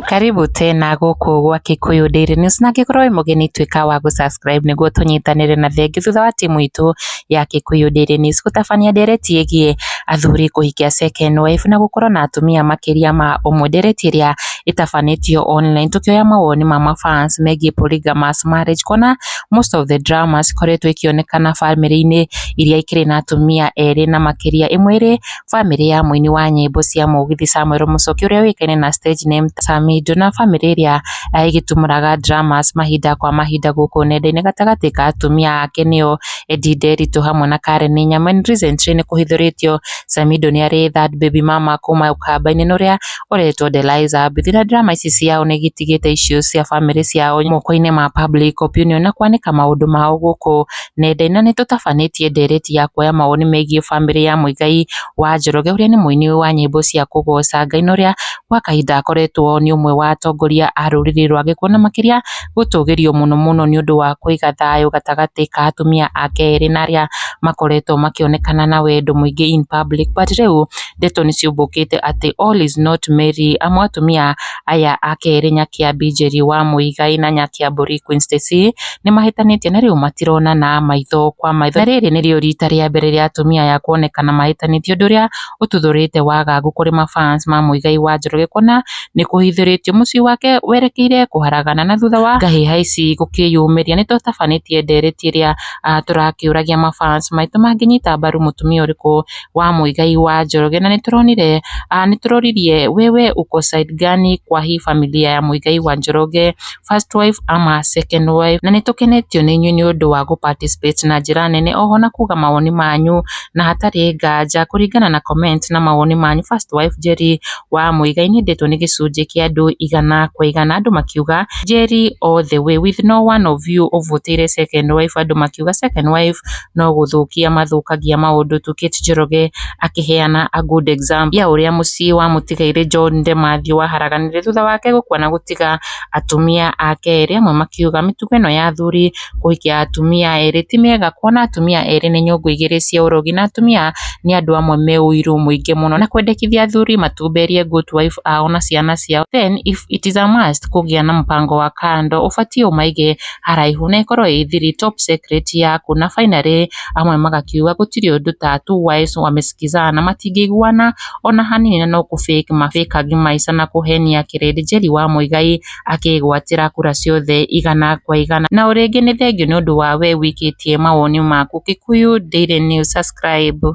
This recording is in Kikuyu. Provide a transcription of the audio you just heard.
Karibu tena gũkũ gwa Kikuyu Daily News na angĩkorwo wĩ mũgeni tuĩka wa gũ subscribe nĩguo tũnyitanĩre na thengi thutha wa timu itũ ya Kikuyu Daily News gũtabania ndereti ĩgiĩ athuri kũhikia second wife na gũkorwo na atumia makĩria ma ũmwe. Ndereti ĩrĩa ĩtabanĩtio online tũkĩoya mawoni ma ma fans megiĩ polygamous marriage kuona most of the dramas ikoretwo ikĩonekana bamĩrĩ-inĩ iria ikĩrĩ na atumia erĩ na makĩria, ĩmwe ĩrĩ bamĩrĩ ya mũini wa nyĩmbo cia mũgithi Samuel Muchoki ũrĩa ũĩkaine na stage name Samido na bamĩrĩ ĩrĩa eh, ĩgĩtumũraga dramas mahinda kwa mahinda gũkũ nenda-inĩ gatagatĩ ka atumia ake nĩo Eddie Nderitu hamwe na Karen Nyama. Recently nĩ kũhithũrĩtio Samido nĩ arĩ third baby mama kuma ũkamba-inĩ na ũrĩa ũretwo Deliza. Mbithi na drama ici ciao nĩ igĩtigĩte iciũ cia bamĩrĩ ciao moko-inĩ ma public opinion na kwanĩka maũndũ mao gũkũ nenda-inĩ. Na nĩ tũtabanĩtie ndeereti ya kuoya mawoni megiĩ bamĩrĩ ya Mũigai wa Njoroge ũrĩa nĩ mũini wa nyĩmbo cia kũgooca Ngai na ũrĩa gwa kahinda akoretwo nĩ ũmwe wa atongoria a rũrĩrĩ rwa Gĩkũyũ na makĩria gũtũgĩrio mũno mũno nĩ ũndũ wa kũiga thayũ gatagatĩ ka atumia ake erĩ na arĩa makoretwo makĩonekana na wendo mũingĩ in public. But rĩu ndeto nĩ ciumbũkĩte atĩ all is not merry amu atumia aya a kerĩ Nyakĩambi Njeri wa Mũigai na Nyakĩambũri Queen Stacy nĩ mahĩtanĩtie na rĩu matironana maitho kwa maitho. Na rĩrĩ nĩrĩo rita rĩa mbere rĩa atumia aya kuonekana mahĩtanĩtie ũndũ ũrĩa ũtuthũrĩte wagagu kũrĩ ma fans ma Mũigai wa Njoroge kuona nĩ kũhithũrĩtio mũciĩ wake werekeire kũharagana na thutha wa ngahĩha ici gũkĩyumĩria nĩ tũtabanĩtie ndereti ĩrĩa tũrakĩũragia ma fans maitũ mangĩnyita mbaru mũtumia ũrĩkũ. wa mũigai wa Njoroge, na nĩtũronire, nĩtũroririe wewe uko side gani kwa hii familia ya mũigai wa Njoroge, first wife ama second wife, na nĩtũkenetio nĩ inyuĩ nĩũndũ wa gũ participate na njĩra nene, o ho na kuga mawoni manyu, na hatarĩ nganja kũringana na comment na mawoni manyu, first wife Njeri wa mũigai nĩendetwo nĩ gĩcunjĩ kĩa andũ igana kwa igana, andũ makiuga Njeri all the way, with no one of you ũvotire second wife, andũ makiuga second wife no gũthũkia mathũkagia maũndũ tu Kate Njoroge akĩheana a good example ya ũrĩa mũciĩ wa mũtigairĩ John de Mathew waharaganire thutha wake gũkua na gũtiga atumia ake erĩ amwe makiuga mĩtugo ĩno ya athuri kũhikia atumia erĩ ti mĩega kuona atumia erĩ nĩ nyũngũ igĩrĩ cia ũrogi na atumia nĩ andũ amwe me ũiru mũingĩ mũno na kwendekithia athuri matumberie good wife ao na ciana ciao then if it is a must kũgĩa na mũbango wa kando ũbatiĩ ũmaige haraihu na ĩkorwo ĩ thiri, top secret, yaku, na finally amwe magakiuga gũtirĩ ũndũ ta two wives wamesikizana, matingĩiguana ona hanini na no kũ fake ma fakagi maisha na kũhenia kĩrĩndĩ. Njeri wa Muigai akĩĩgwatĩra kura ciothe igana kwa igana. Na o rĩngĩ nĩ thengiũ nĩ ũndũ wa wee ũikĩtie mawoni maku. Kikuyu Daily News, Subscribe.